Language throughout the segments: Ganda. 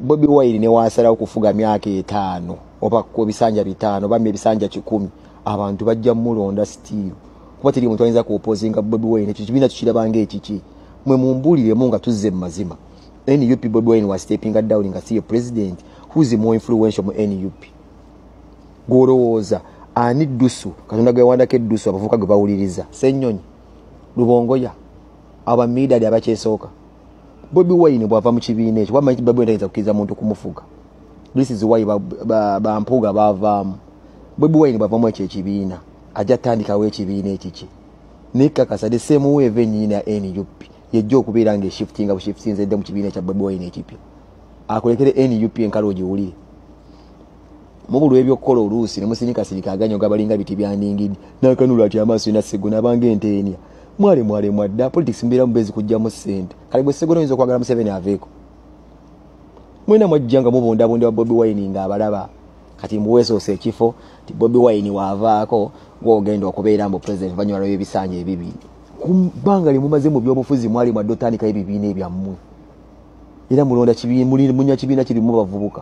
bobi wine newasalawo kufuga myaka etaano oba ku ebisanja bitaano bambi ebisanja kikumi abantu bajja mulonda stiiru kuba teri muntu ayinza kuopozinga bobi wine ekyo kibiina tukirabanga ekiki mwe mumbuliremu nga tuzze mu mazima nup bobi wine was stepping down nga siye president who's more influential mu nup gwolowooza ani dusu katonda gwewandako edusu abavuka gwe bawuliriza senyonyi lubongoya abamidadi abakyesooka bobi wine bwava mu kibiina ekyo wamanyi babu entayinza kukiriza muntu kumufuga this is why bampuuga bavaamu bobi wine bwavamu ekyo ekibiina ajja tandikawo ekibiina ekiki naye kakasa the same way eva enyini ya nup yejja okubeera nga eshiftinga bushiftinze edde mu kibiina ekya bobi wine ekipya akulekere nup enkalo ogiwulire mubulwa ebyokukola oluusi nemusinikasinika aganyo gabalinga biti byandingidi nakanula ati amaaso ina segona abanga enteenia mwale mwale mwadda politics mbeera mubezi kujjamu sente kale bwe segona oyinza okwagala museveni aveeko mwena mwajja nga mubundabundeba bobi wine nga abalaba kati mbuwesoose ekifo ti bobi wine waavaako gweogenda okubeera mbu president oluvanyuma lwebisaanya ebibi kubbanga lyemumaze mu byobufuzi mwali mwadde otandikayo ebibiina ebyammwe era mulonda munya kibiina kirimu bavubuka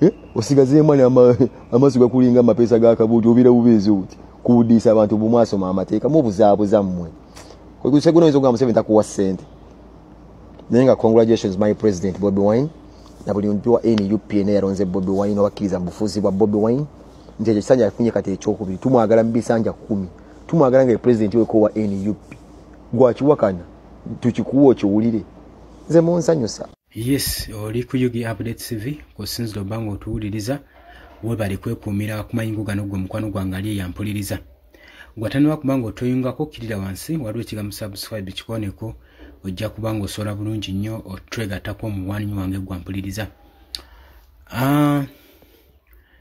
eh, osigazeemu ani amaaso gakulinga amapeesa ga kabuuti obira bubeezi obuti kuwudiisa abantu bumwasoma amateeka mubuzaabuza mmwe kuseguna oyinza okugamba museveni takuwa ssente naye nga congratulations my president bobi wine na buli muntu wa nup ena yalonze bobi wine obakkiriza mu bufuzi bwa bobi wine nti ekyo kisanja afunye kati ekyokubiri tumwagala mu bisanja kumi tumwagala nga president weko wa nup gwakiwakana tukikuwa okiwulire nze munsanyusa yes oli ku ug update cv kusinzira oba nga otuwuliriza webali kwekuumira kumayingo gano gwe mukwano gwange ali eyampuliriza gwataniwa kuba nga otoyungako okkirira wansi waliwo ekigambo subscribe kikoneko ojja kuba nga osobola bulungi nnyo otwegatako omuwanyi wange gwampuliriza ah,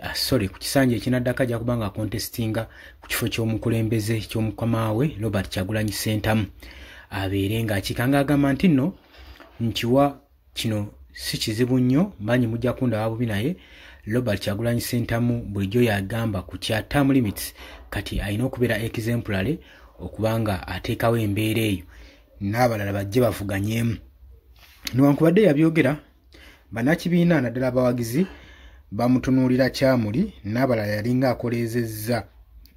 Ah, sorry ku kisanja ekinaddako ajja kuba nga akontestinga ku kifo ky'omukulembeze ky'omukamaawe robert kyagulanyi sentamu abeere ng'akiika ng'agamba nti nno nkiwa kino si kizibu nnyo mbanyi mujja kundaba bubi naye robert kyagulanyi sentamu bulijjo yagamba ku kya term limits kati alina okubeera exemplary okuba nga ateekawo embeera eyo n'abalala bajje bavuganyeemu newankubadde yabyogera banakibiina naddala abawagizi bamutunuulira kyamuli n'abalala yalinga akoleezezza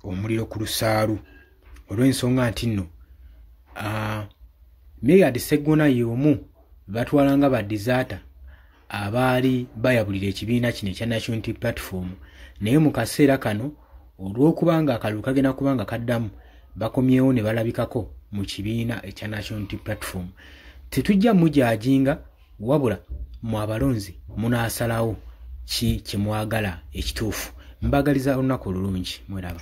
omuliro ku lusaalu olw'ensonga nti nno meyard seggona y'omu batwala nga badizata abaali bayabulira ekibiina kino ekya national unity platform naye mu kaseera kano olw'okuba nga akalulu kagenda kuba nga kaddamu bakomyewo ne balabikako mu kibiina ekya national unity platform tetujja mujajinga wabula mu abalonzi munaasalawo ki kyemwagala ekituufu mbagaliza olunaku olulungi mweraba